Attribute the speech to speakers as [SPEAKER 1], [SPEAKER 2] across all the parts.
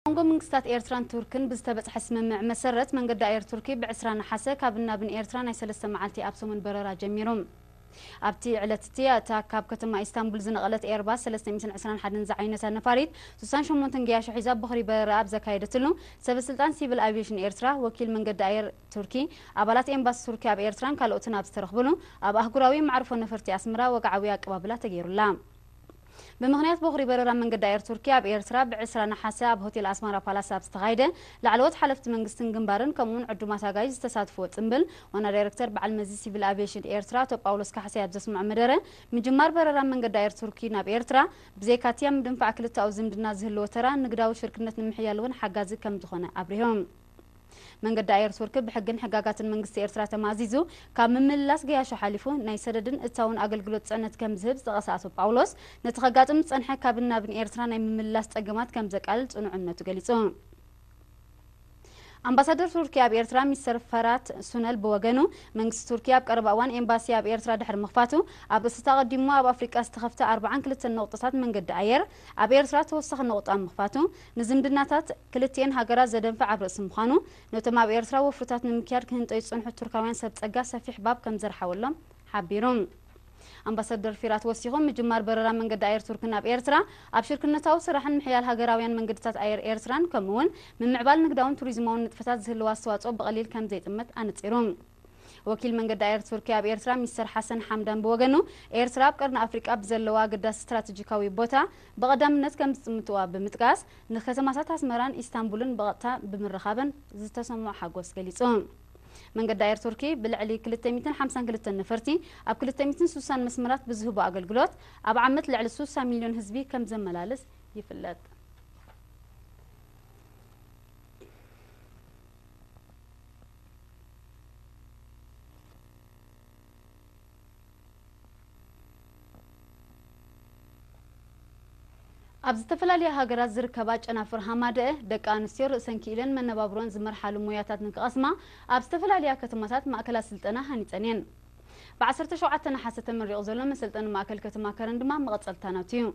[SPEAKER 1] መንጎ ምንግስታት ኤርትራን ቱርክን ብዝተበጽሐ ስምምዕ መሰረት መንገዲ ኣየር ቱርኪ ብ ዕስራ ነሓሰ ካብን ናብን ኤርትራ ናይ ሰለስተ መዓልቲ ኣብ ሰሙን በረራ ጀሚሩ። ኣብቲ ዕለት'ቲ እታ ካብ ከተማ ኢስታንቡል ዝነቐለት ኤርባስ ሰለስተ ሚእትን ዕስራን ሓደን ዝዓይነታ ነፋሪት ስሳን ሸሞንተን ገያሾ ሒዛ በኹሪ በረራኣ ኣብ ዘካየደትሉ ሰበስልጣን ሲቪል ኣቪየሽን ኤርትራ፣ ወኪል መንገዲ ኣየር ቱርኪ፣ ኣባላት ኤምባሲ ቱርኪ ኣብ ኤርትራን ካልኦትን ኣብ ዝተረኽብሉ ኣብ ኣህጉራዊ መዕርፎ ነፈርቲ ኣስመራ ወግዓዊ ኣቀባብላ ተገይሩላ። ብምኽንያት ቦኽሪ በረራ መንገዲ ኣየር ቱርኪ ኣብ ኤርትራ ብ ዕስራ ነሓሰ ኣብ ሆቴል ኣስማራ ፓላስ ኣብ ዝተኻየደ ላዕለዎት ሓለፍቲ መንግስትን ግንባርን ከምኡ'ውን ዕዱማት ኣጋይሽ ዝተሳትፍዎ ጽምብል ዋና ዳይረክተር በዓል መዚ ሲቪል ኣቪየሽን ኤርትራ ኣቶ ጳውሎስ ካሕሳይ ኣብ ዘስምዖ መደረ ምጅማር በረራ መንገዲ ኣየር ቱርኪ ናብ ኤርትራ ብዘይካ'ቲ ኣብ ምድንፋዕ ክልተኣዊ ዝምድና ዝህልዎ ተራ ንግዳዊ ሽርክነት ንምሕያል'ውን ሓጋዚ ከምዝኾነ ኣብሪሆም። መንገዲ ኣየር ቱርኪ ብሕግን ሕጋጋትን መንግስቲ ኤርትራ ተማእዚዙ ካብ ምምልላስ ገያሾ ሓሊፉ ናይ ሰደድን እታውን ኣገልግሎት ጽዕነት ከም ዝህብ ዝጠቐሰ ኣቶ ጳውሎስ ነቲ ከጋጥም ዝጸንሐ ካብን ናብን ኤርትራ ናይ ምምልላስ ጸገማት ከም ዘቃልል ጽኑዕ እምነቱ ገሊጹ። ኣምባሳደር ቱርኪ ኣብ ኤርትራ ሚስተር ፈራት ሱነል ብወገኑ መንግስቲ ቱርኪ ኣብ ቀረባ እዋን ኤምባሲ ኣብ ኤርትራ ድሕሪ ምኽፋቱ ኣብ እስት ኣቐዲሙ ኣብ ኣፍሪቃ ዝተኸፍተ ኣርብዓን ክልተን ነቑጥታት መንገዲ ኣየር ኣብ ኤርትራ ተወሳኺ ነቑጣ ምኽፋቱ ንዝምድናታት ክልቲኤን ሃገራት ዘደንፍዕ ኣብ ርእሲ ምዃኑ፣ ነቶም ኣብ ኤርትራ ወፍርታት ንምክያድ ክህንጠዩ ዝጸንሑ ቱርካውያን ሰብ ጸጋ ሰፊሕ ባብ ከም ዘርሓወሎም ሓቢሩ። ኣምባሰደር ፊራት ወሲኹ፣ ምጅማር በረራ መንገዲ ኣየር ቱርኪ ናብ ኤርትራ፣ ኣብ ሽርክነታዊ ስራሕን ምሕያል ሃገራውያን መንገድታት ኣየር ኤርትራን ከምኡ'ውን ምምዕባል ንግዳውን ቱሪዝማውን ንጥፈታት ዝህልዎ ኣስተዋጽኦ ብቐሊል ከም ዘይጥመት ኣነጺሩ። ወኪል መንገዲ ኣየር ቱርኪ ኣብ ኤርትራ ሚስተር ሓሰን ሓምዳን ብወገኑ፣ ኤርትራ ኣብ ቀርኒ ኣፍሪቃ ብዘለዋ ኣገዳሲ ስትራተጂካዊ ቦታ ብቐዳምነት ከምዝጥምትዋ ብምጥቃስ፣ ንከተማታት ኣስመራን ኢስታንቡልን ብቐጥታ ብምርኻበን ዝተሰምዖ ሓጎስ ገሊጹ። መንገዲ ኣየር ቱርኪ ብልዕሊ ክልተ ሚእትን ሓምሳን ክልተን ነፈርቲ ኣብ ክልተ ሚእትን ስሳን መስመራት ብዝህቦ ኣገልግሎት ኣብ ዓመት ልዕሊ ሱሳ ሚልዮን ህዝቢ ከምዘመላልስ ይፍለጥ። ኣብ ዝተፈላለያ ሃገራት ዝርከባ ጨናፍር ሃማደኤ ደቂ ኣንስትዮ ርእሰን ክኢለን መነባብሮን ዝመርሓሉ ሞያታት ንክቐስማ ኣብ ዝተፈላለያ ከተማታት ማእከላት ስልጠና ሃኒፀን እየን። ብዓሰርተ ሸውዓተ ነሓሰ ተመሪቑ ዘሎ መሰልጠኒ ማእከል ከተማ ከረን ድማ መቐፀልታ ናቱ እዩ።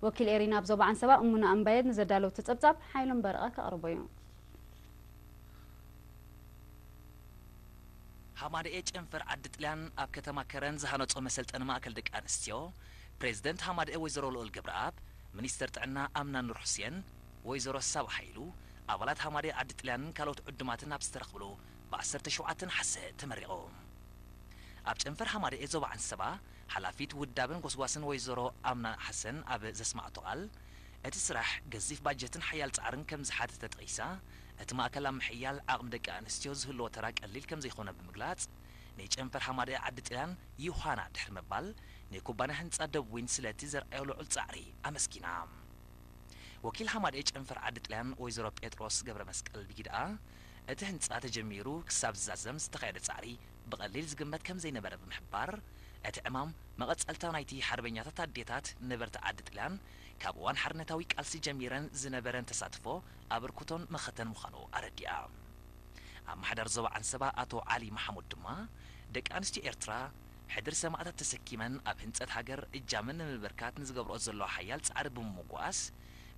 [SPEAKER 1] ወኪል ኤሪና ኣብ ዞባ ዓንሰባ እሙና እምባየድ ንዘዳለወቶ ፀብፃብ ሓይሎም በረቐ ከቕርቦ እዩ።
[SPEAKER 2] ሃማደኤ ጨንፈር ዓዲ ጥልያን ኣብ ከተማ ከረን ዝሃነፆ መሰልጠኒ ማእከል ደቂ ኣንስትዮ ፕሬዝደንት ሃማደኤ ወይዘሮ ልኡል ገብረኣብ፣ ሚኒስትር ጥዕና ኣምና ኑር ሑሴን፣ ወይዘሮ ሳባ ሃይሉ፣ ኣባላት ሃማደኤ ዓዲ ጥልያንን ካልኦት ዕዱማትን ኣብ ዝተረኽብሉ ብ ዓሰርተ ሸውዓተ ነሓሰ ተመሪቑ። ኣብ ጨንፈር ሃማደኤ ዞባ ዓንሰባ ሓላፊት ውዳበን ጎስጓስን ወይዘሮ ኣምና ሓሰን ኣብ ዘስመዓቶ ቃል፣ እቲ ስራሕ ገዚፍ ባጀትን ሓያል ፃዕርን ከምዝሓተተ ጠቒሳ፣ እቲ ማእከል ኣብ ምሕያል ዓቕሚ ደቂ ኣንስትዮ ዝህልዎ ተራ ቀሊል ከምዘይኮነ ብምግላጽ፣ ናይ ጨንፈር ሃማደኤ ዓዲ ጥልያን ዩሃና ድሕሪ ምባል፣ ናይ ኩባንያ ህንጻ ደብ ዊን ስለቲ ዘርኣዮ ልዑል ጻዕሪ ኣመስጊና። ወኪል ሃማደኤ ጨንፈር ዓዲ ጥልያን ወይዘሮ ጴጥሮስ ገብረመስቀል ብጊደኣ፣ እቲ ህንጻ ተጀሚሩ ክሳብ ዝዛዘም ዝተኻየደ ጻዕሪ ብቐሊል ዝግመት ከምዘይነበረ ብምሕባር፣ እቲ ዕማም መቐጸልታ ናይቲ ሓርበኛታት ኣዴታት ነበርቲ ዓዲ ጥልያን ካብ እዋን ሓርነታዊ ቃልሲ ጀሚረን ዝነበረን ተሳትፎ ኣበርክቶን መኸተን ምዃኑ ኣረዲኣ። ኣማሓዳሪ ዞባ ዓንሰባ ኣቶ ዓሊ መሓሙድ ድማ፣ ደቂ ኣንስትዮ ኤርትራ ሕድሪ ሰማእታት ተሰኪመን ኣብ ህንጸት ሃገር እጃመን ንምብርካት ንዝገብርኦ ዘለዋ ሓያል ጻዕሪ ብምምጓስ፣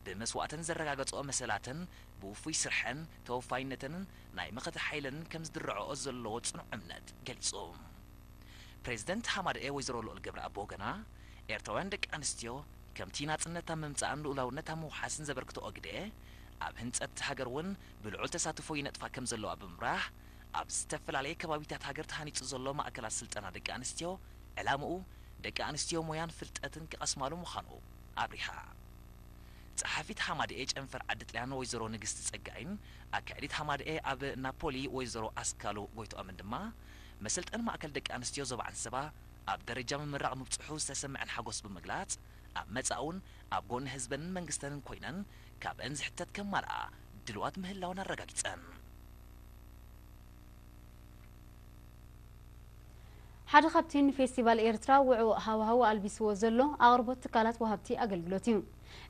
[SPEAKER 2] ብመስዋእተን ዘረጋገጽኦ መሰላተን ብውፉይ ስርሐን ተወፋይነተንን ናይ መኸተ ሓይለንን ከምዝድርዐኦ ዘለዎ ጽኑዕ እምነት ገሊጹ። ፕሬዚደንት ሃማደኤ ወይዘሮ ልኡል ገብረኣብ ብወገና፣ ኤርትራውያን ደቂ ኣንስትዮ ከምቲ ናጽነት ኣብ ምምጻእን ልኡላውነት ኣብ ምውሓስን ዘበርክትኦ ግደ፣ ኣብ ህንጸት ሃገር እውን ብልዑል ተሳትፎ ይነጥፋ ከምዘለዋ ብምብራህ፣ ኣብ ዝተፈላለየ ከባቢታት ሃገር ተሃኒጹ ዘሎ ማእከላት ስልጠና ደቂ ኣንስትዮ ዕላምኡ ደቂ ኣንስትዮ ሞያን ፍልጠትን ክቐስማሉ ምዃኑ ኣብሪሃ። ጸሓፊት ሃማደኤ ጨንፈር ዓዲ ጥልያን ወይዘሮ ንግስቲ ጸጋይን ኣካያዲት ሃማደኤ ኣብ ናፖሊ ወይዘሮ ኣስካሉ ጎይትኦምን ድማ፣ መሰልጠኒ ማእከል ደቂ ኣንስትዮ ዞባ ዓንሰባ ኣብ ደረጃ ምምራቕ ምብጽሑ ዝተሰመዐን ሓጎስ ብምግላጽ፣ ኣብ መጻእ'ውን ኣብ ጎኒ ህዝበንን መንግስተንን ኮይነን ካብእን ዝሕተት ከማልኣ ድልዋት ምህላወን ኣረጋጊጸን።
[SPEAKER 1] ሓደ ካብቲ ንፌስቲቫል ኤርትራ ውዕዉዕ ሃዋህው ኣልቢስዎ ዘሎ ኣቕርቦት ትካላት ወሃብቲ ኣገልግሎት እዩ።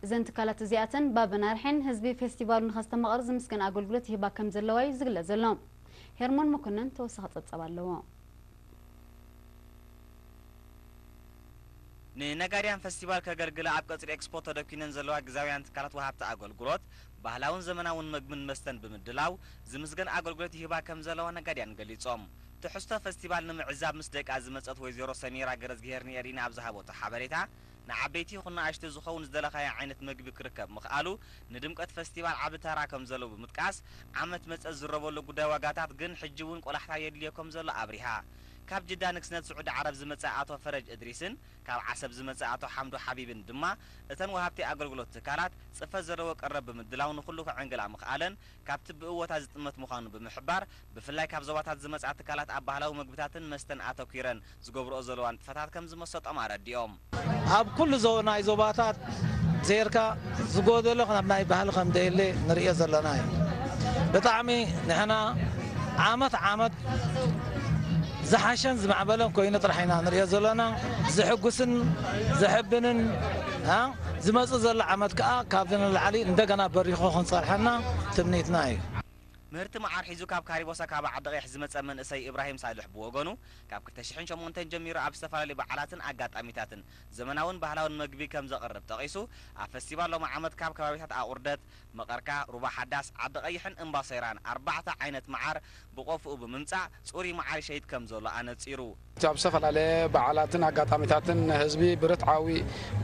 [SPEAKER 1] እዘን ትካላት እዚኣተን ባበን ኣርሒን ህዝቢ ፌስቲቫሉ ንኸስተማቕር ዝምስገን ኣገልግሎት ይህባ ከምዘለዋ'ዩ ዝግለጽ ዘሎ። ሄርሞን መኮነን ተወሳኺ ጸብጻብ ኣለዎ።
[SPEAKER 3] ንነጋድያን ፈስቲቫል ከገልግላ ኣብ ቀጽሪ ኤክስፖ ተደኲነን ዘለዋ ግዝያውያን ትካላት ወሃብቲ ኣገልግሎት፣ ባህላውን ዘመናውን መግብን መስተን ብምድላው ዝምስገን ኣገልግሎት ይህባ ከምዘለዋ ነጋድያን ገሊጾም። ትሕዝቶ ፈስቲቫል ንምዕዛብ ምስ ደቃ ዝመጸት ወይዘሮ ሰሚራ ገረዝግሄርንኤሪና ኣብ ዝሃበቶ ሓበሬታ፣ ንዓበይቲ ይኹን ንኣሽቱ ዝኸውን ዝደለኻዮ ዓይነት መግቢ ክርከብ ምኽኣሉ ንድምቀት ፈስቲቫል ዓቢ ተራ ከምዘለዎ ብምጥቃስ፣ ዓመት መጸ ዝዝረበሉ ጉዳይ ዋጋታት ግን ሕጂ'ውን ቆላሕታ የድልዮ ከምዘሎ ኣብሪሃ። ካብ ጅዳ ንግስነት ስዑዲ ዓረብ ዝመጸ ኣቶ ፈረጅ እድሪስን ካብ ዓሰብ ዝመጸ ኣቶ ሓምዱ ሓቢብን ድማ እተን ወሃብቲ ኣገልግሎት ትካላት ጽፈት ዘለዎ ቀረብ ብምድላው ንኹሉ ከዐንግላ ምኽኣለን ካብቲ ብእወታ ዝጥመት ምዃኑ ብምሕባር፣ ብፍላይ ካብ ዞባታት ዝመጽኣ ትካላት ኣብ ባህላዊ መግብታትን መስተን ኣተኲረን ዝገብርኦ ዘለዋ ንጥፈታት ከም ዝመሰጦም ኣረዲኦም። ኣብ ኩሉ
[SPEAKER 4] ናይ ዞባታት ዜርካ ዝጎደሎ ካብ ናይ ባህሊ ከም ዘየለ ንርእዮ ዘለና እዩ። ብጣዕሚ ንሕና ዓመት ዓመት ዝሓሸን ዝማዕበለን ኮይኑ ጥራሕ ኢና ንርእዮ ዘሎና። ዘሕጉስን ዘሕብንን። ዝመጽእ ዘሎ ዓመት ከኣ ካብዚ ንላዕሊ እንደገና በሪኹ ክንጸርሐና ትምኒትና እዩ። ምህርቲ
[SPEAKER 3] መዓር ሒዙ ካብ ካሪቦ ሰካባ ዓዲቐይሕ ዝመጸ መንእሰይ እብራሂም ሳልሕ ብወገኑ፣ ካብ ክልተ ሽሕን ሸሞንተን ጀሚሩ ኣብ ዝተፈላለዩ በዓላትን ኣጋጣሚታትን ዘመናውን ባህላውን መግቢ ከምዘቕርብ ጠቒሱ፣ ኣብ ፈስቲቫል ሎሚ ዓመት ካብ ከባቢታት ኣቑርደት፣ መቐርካ፣ ሩባ ሓዳስ፣ ዓዲ ቐይሕን እምባ ሰይራን ኣርባዕተ ዓይነት መዓር ብቖፍኡ ብምምፃእ ፅሩይ መዓር ይሸይጥ ከምዘሎ ኣነፂሩ። እቲ ኣብ ዝተፈላለየ
[SPEAKER 5] በዓላትን ኣጋጣሚታትን ንህዝቢ ብርትዓዊ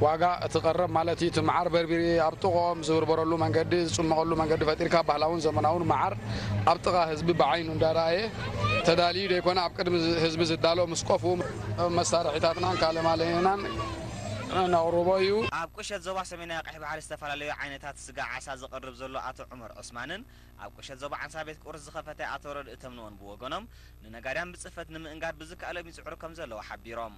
[SPEAKER 5] ዋጋ እቲ ቀረብ ማለት እዩ እቲ መዓር በርቢሪ ኣብ ጥቕኦም ዝብርበረሉ መንገዲ ዝፅመቐሉ መንገዲ ፈጢርካ ባህላውን ዘመናውን መዓር ኣብ ጥቓ ህዝቢ ብዓይኑ እንዳረኣየ ተዳልዩ ዘይኮነ ኣብ ቅድሚ ህዝቢ ዝዳሎ ምስ ቆፍኡ መሳርሒታትናን ካልእ ማለናን ነቕርቦ እዩ። ኣብ ቁሸት
[SPEAKER 3] ዞባ ሰሜናዊ ቀይሕ ባሕሪ ዝተፈላለዩ ዓይነት መግብታት ስጋ ዓሳ ዘቕርብ ዘሎ ኣቶ ዑመር ዑስማንን ኣብ ቁሸት ዞባ ዓንሳ ቤት ቁርስ ዝኸፈተ ኣቶ ረድእ ተምንኦን ብወገኖም ንነጋድያን ብፅፈት ንምእንጋድ ብዝከኣሎም ይፅዕሩ ከምዘለዉ ሓቢሮም።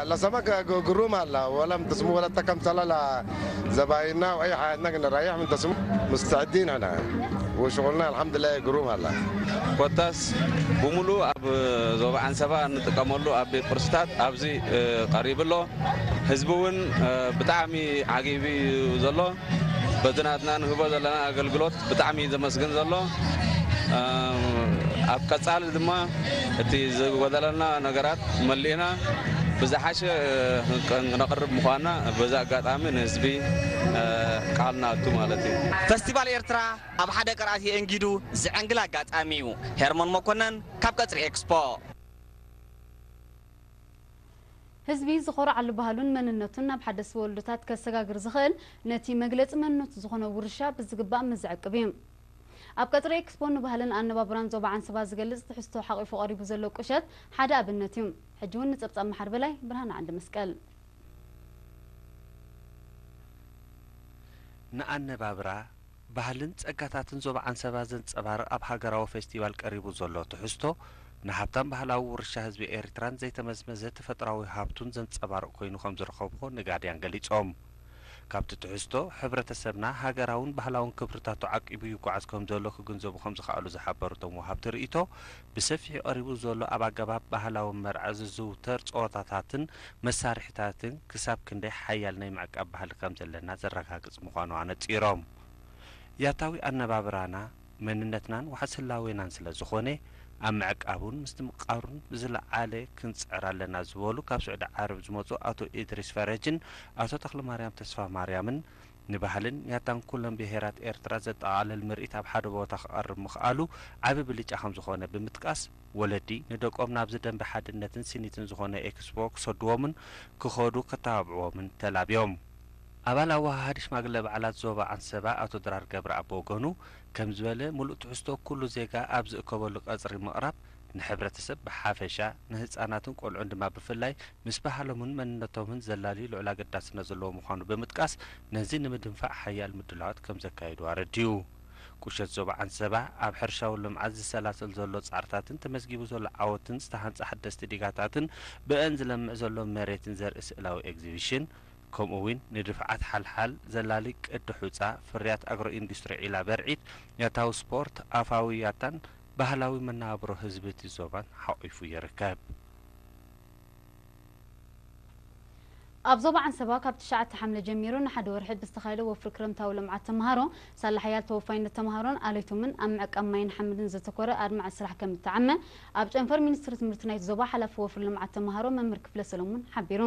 [SPEAKER 3] ለሰመከ
[SPEAKER 6] ግሩም ኣላ ወለም ትስሙ ወለተ ከምሰለ ለዘባይና ወዒ ሓያትና ግን ራይሕ ምን ተስሙ ሙስተዕዲን ሕነ ወሽቁልና ኣልሓምድላይ ግሩም ኣላ። ኮታስ
[SPEAKER 7] ብሙሉኡ ኣብ ዞባ ዓንሰባ እንጥቀመሉ ኣብ ቤት ቁርስታት ኣብዚ ቀሪቡ ኣሎ። ህዝቢ እውን ብጣዕሚ ዓጊቢ እዩ ዘሎ በቲ ናትና ንህቦ ዘለና ኣገልግሎት ብጣዕሚ እዩ ዘመስግን ዘሎ ኣብ ቀፃሊ ድማ እቲ ዝጎደለና ነገራት መሊእና ብዝሓሸ ክነቕርብ ምዃንና በዚ ኣጋጣሚ ንህዝቢ ቃል ንኣቱ ማለት እዩ። ፈስቲቫል ኤርትራ
[SPEAKER 3] ኣብ ሓደ ቅርኣት የእንጊዱ ዘዐንግል ኣጋጣሚ እዩ። ሄርሞን መኮነን ካብ ቀጽሪ ኤክስፖ።
[SPEAKER 1] ህዝቢ ዝኾርዓሉ ባህሉን መንነቱን ናብ ሓደስቲ ወለዶታት ከሰጋግር ዝኽእል ነቲ መግለጺ መንነቱ ዝኾነ ውርሻ ብዝግባእ ምስ ዝዕቅብ እዩ። ኣብ ቀጽሪ ኤክስፖ ንባህልን ኣነባብራን ዞባ ዓንሰባ ዝገልጽ ትሕዝቶ ሓቚፉ ቀሪቡ ዘሎ ቁሸት ሓደ ኣብነት እዩ። ሕጂ እውን ንጸብጻብ መሓር በላይ ብርሃነ ዓንደመስቀል።
[SPEAKER 8] ንኣነባብራ ባህልን ጸጋታትን ዞባ ዓንሰባ ዘንጸባርቕ ኣብ ሃገራዊ ፌስቲቫል ቀሪቡ ዘሎ ትሕዝቶ፣ ንሃብታም ባህላዊ ውርሻ ህዝቢ ኤሪትራን ዘይተመዝመዘ ተፈጥሮኣዊ ሃብቱን ዘንጸባርቕ ኮይኑ ከምዝረኸብዎ ነጋድያን ገሊጾም። ካብቲ ትሕዝቶ፣ ሕብረተሰብና ሃገራውን ባህላውን ክብርታቱ ዓቂቡ ይጓዓዝ ከምዘሎ ክግንዘቡ ከምዝኸኣሉ ዝሓበሩ እቶም ወሃብቲ ርእይቶ፣ ብሰፊሑ ቀሪቡ ዘሎ ኣብ ኣገባብ ባህላዊ መርዓ ዝዝውተር ጸወታታትን መሳርሒታትን ክሳብ ክንደይ ሓያል ናይ ምዕቃብ ባህሊ ከም ዘለና ዘረጋግጽ ምዃኑ ኣነጺሮም፣ ያታዊ ኣነባብራና መንነትናን ዋሕስ ህላዌናን ስለ ዝኾነ ኣብ ምዕቃቡን ምስትምቓሩን ብዝለዓለ ክንጽዕር ኣለና ዝበሉ ካብ ስዑዲ ዓረብ ዝመጹ ኣቶ ኢድሪስ ፈረጅን ኣቶ ተኽለማርያም ተስፋማርያምን ንባህልን ያታን ኩለን ብሄራት ኤርትራ ዘጠቓልል ምርኢት ኣብ ሓደ ቦታ ክቐርብ ምኽኣሉ ዓቢ ብልጫ ከምዝኾነ ብምጥቃስ፣ ወለዲ ንደቆም ናብዚ ደምበ ሓድነትን ስኒትን ዝኾነ ኤክስፖ ክሰድዎምን ክኸዱ ከተባብዕዎምን ተላብዮም። ኣባል ኣወሃሃዲ ሽማግለ በዓላት ዞባ ዓንሰባ ኣቶ ድራር ገብረኣብ ብወገኑ ከምዝበለ፣ ምሉእ ትሕዝቶ ኩሉ ዜጋ ኣብ ዝእከበሉ ቀጽሪ ምቕራብ፣ ንሕብረተሰብ ብሓፈሻ፣ ንህጻናትን ቆልዑን ድማ ብፍላይ ምስ ባህሎምን መንነቶምን ዘላልዩ ልዑል ኣገዳስነት ዘለዎ ምዃኑ ብምጥቃስ፣ ነዚ ንምድንፋዕ ሓያል ምድላዋት ከም ዘካየዱ ኣረዲኡ። ቁሸት ዞባ ዓንሰባ፣ ኣብ ሕርሻዊ ልምዓት ዝሰላሰል ዘሎ ጻዕርታትን ተመዝጊቡ ዘሎ ዓወትን ዝተሃንጸ ሓደስቲ ዲጋታትን ብእእን ዝለምዕ ዘሎ መሬትን ዘርኢ ስእላዊ ኤግዚቪሽን ከምኡ'ውን ንድፍዓት ሓልሓል ዘላሊ ቅዲ ሑጻ፣ ፍርያት ኣግሮ-ኢንዱስትሪ ዒላ በርዒት፣ ያታዊ ስፖርት፣ ኣፋዊ ያታን ባህላዊ መነባብሮ ህዝቢ እቲ ዞባን ሓቝፉ ይርከብ።
[SPEAKER 1] ኣብ ዞባ ዓንሰባ ካብ ትሽዓተ ሓምለ ጀሚሩ ንሓደ ወርሒ ብዝተኻየደ ወፍሪ ክረምታዊ ልምዓት ተምሃሮ፣ ሳላ ሓያል ተወፋይነት ተምሃሮን ዓሌቶምን ኣብ ምዕቃብ ማይን ሓመድን ዘተኮረ ኣድማዒ ስራሕ ከምእተዓመ ኣብ ጨንፈር ሚኒስትሪ ትምህርቲ ናይቲ ዞባ ሓላፊ ወፍሪ ልምዓት ተምሃሮ መምህር ክፍለ ሰለሙን ሓቢሩ።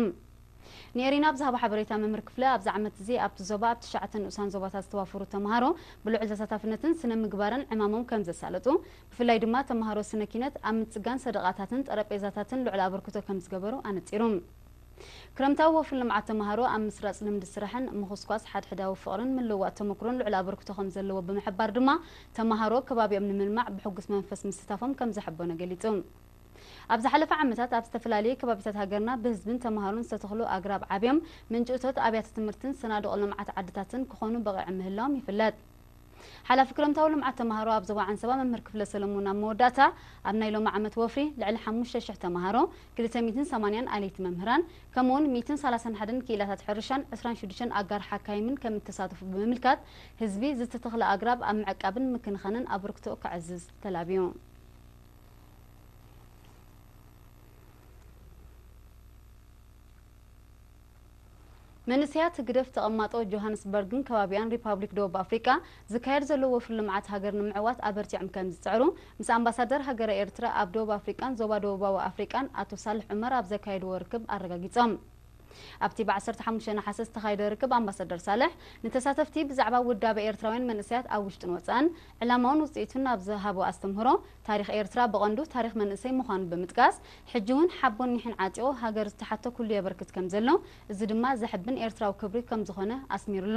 [SPEAKER 1] ንኤሪና ኣብ ዝሃቦ ሓበሬታ መምህር ክፍለ ኣብዚ ዓመት'ዚ ኣብቲ ዞባ ኣብ ትሽዓተ ንኡሳን ዞባታት ዝተዋፈሩ ተመሃሮ ብልዑል ተሳታፍነትን ስነ ምግባርን ዕማሞም ከም ዘሳለጡ ብፍላይ ድማ ተመሃሮ ስነ ኪነት ኣብ ምጽጋን ሰደቓታትን ጠረጴዛታትን ልዑል ኣበርክቶ ከም ዝገበሩ ኣነጺሩ። ክረምታዊ ወፍሪ ልምዓት ተመሃሮ ኣብ ምስራጽ ልምዲ ስራሕን ምኹስኳስ ሓድሕዳዊ ፍቕርን ምልውዋጥ ተመኩሮን ልዑል ኣበርክቶ ከም ዘለዎ ብምሕባር ድማ ተመሃሮ ከባቢኦም ንምልማዕ ብሕጉስ መንፈስ ምስታፎም ከም ዘሐበኖ ገሊጹ። ኣብ ዝሓለፈ ዓመታት ኣብ ዝተፈላለየ ከባቢታት ሃገርና ብህዝብን ተማሃሮን ዝተተኽሉ ኣግራብ ዓብዮም ምንጪ እቶት ኣብያተ ትምህርትን ሰናዱቕ ልምዓት ዓድታትን ክኾኑ በቒዖም ምህላዎም ይፍለጥ። ሓላፊ ክረምታዊ ልምዓት ተማሃሮ ኣብ ዞባ ዓንሰባ መምህር ክፍለ ሰለሙን ኣብ መወዳእታ ኣብ ናይ ሎሚ ዓመት ወፍሪ ልዕሊ ሓሙሽተ ሽሕ ተማሃሮ፣ ክልተ ሚእትን ሰማንያን ኣለይቲ መምህራን ከምኡ'ውን ሚእትን ሰላሳን ሓደን ክኢላታት ሕርሻን ዕስራን ሽዱሽተን ኣጋር ሓካይምን ከምእተሳተፉ ብምምልካት ህዝቢ ዝተተኽለ ኣግራብ ኣብ ምዕቃብን ምክንኻንን ኣበርክቶኡ ከዕዝዝ ተላብዩ። መንእሰያት ህግደፍ ተቐማጦ ጆሃንስበርግን ከባቢኣን ሪፓብሊክ ደቡብ ኣፍሪቃ ዝካየድ ዘሎ ወፍሪ ልምዓት ሃገር ንምዕዋት ኣበርቲዖም ከምዝጽዕሩ ምስ ኣምባሳደር ሃገረ ኤርትራ ኣብ ደቡብ ኣፍሪቃን ዞባ ደቡባዊ ኣፍሪቃን ኣቶ ሳልሕ ዑመር ኣብ ዘካየድዎ ርክብ ኣረጋጊጾም። ኣብቲ ብ ዓሰርተ ሓሙሽተ ነሓሰ ዝተኻየደ ርክብ ኣምባሳደር ሳልሕ ንተሳተፍቲ ብዛዕባ ውዳበ ኤርትራውያን መንእሰያት ኣብ ውሽጥን ወጻእን ዕላማኡን ውጽኢቱን ኣብ ዝሃቦ ኣስተምህሮ፣ ታሪኽ ኤርትራ ብቐንዱ ታሪኽ መንእሰይ ምዃኑ ብምጥቃስ፣ ሕጂ'ውን ሓቦን ኒሕን ዓጢቑ ሃገር ዝተሓቶ ኩሉ የበርክት ከምዘሎ፣ እዚ ድማ ዘሕብን ኤርትራዊ ክብሪ ከምዝኾነ ኣስሚሩሉ።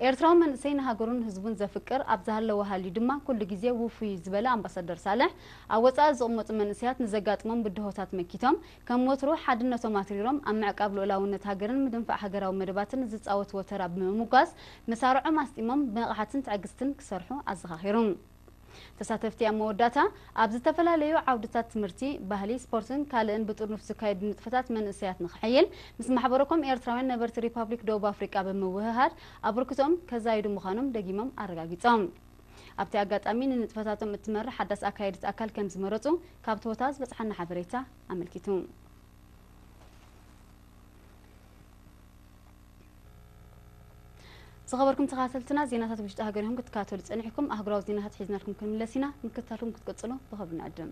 [SPEAKER 1] ኤርትራዊ መንእሰይ ንሃገሩን ህዝቡን ዘፍቅር ኣብ ዝሃለወ ሃልዩ ድማ ኩሉ ግዜ ውፉይ'ዩ ዝበለ ኣምባሳደር ሳልሕ፣ ኣብ ወጻኢ ዝቕመጡ መንእሰያት ንዘጋጥሞም ብድሆታት መኪቶም ከም ወትሩ ሓድነቶም ኣትሪሮም ኣብ ምዕቃብ ልኡላውነት ሃገርን ምድንፋዕ ሃገራዊ መደባትን ዝጻወትዎ ተራ ብምምጓስ መሳርዖም ኣስጢሞም ብንቕሓትን ትዕግስትን ክሰርሑ ኣዘኻኺሩ። ተሳተፍቲ ኣብ መወዳእታ ኣብ ዝተፈላለዩ ዓውድታት ትምህርቲ፣ ባህሊ፣ ስፖርትን ካልእን ብጥርኑፍ ዝካየዱ ንጥፈታት መንእሰያት ንኽሕይል ምስ ማሕበረኮም ኤርትራውያን ነበርቲ ሪፓብሊክ ደቡብ ኣፍሪቃ ብምውህሃድ ኣበርክቶኦም ከዛይዱ ምዃኖም ደጊሞም ኣረጋጊጾም። ኣብቲ ኣጋጣሚ ንንጥፈታቶም እትመርሕ ሓዳስ ኣካየዲት ኣካል ከምዝመረፁ ካብ ቶዮታ ዝበፅሓና ሓበሬታ ኣመልኪቱ። ዝኸበርኩም ተኸታተልትና ዜናታት ውሽጢ ሃገር ኢኹም ክትከታተሉ ጸኒሕኩም ኣህጉራዊ ዜናታት ሒዝናልኩም ክንምለስ ኢና ምክትታልኩም ክትቅጽሉ ብኸብሪ ንዕድም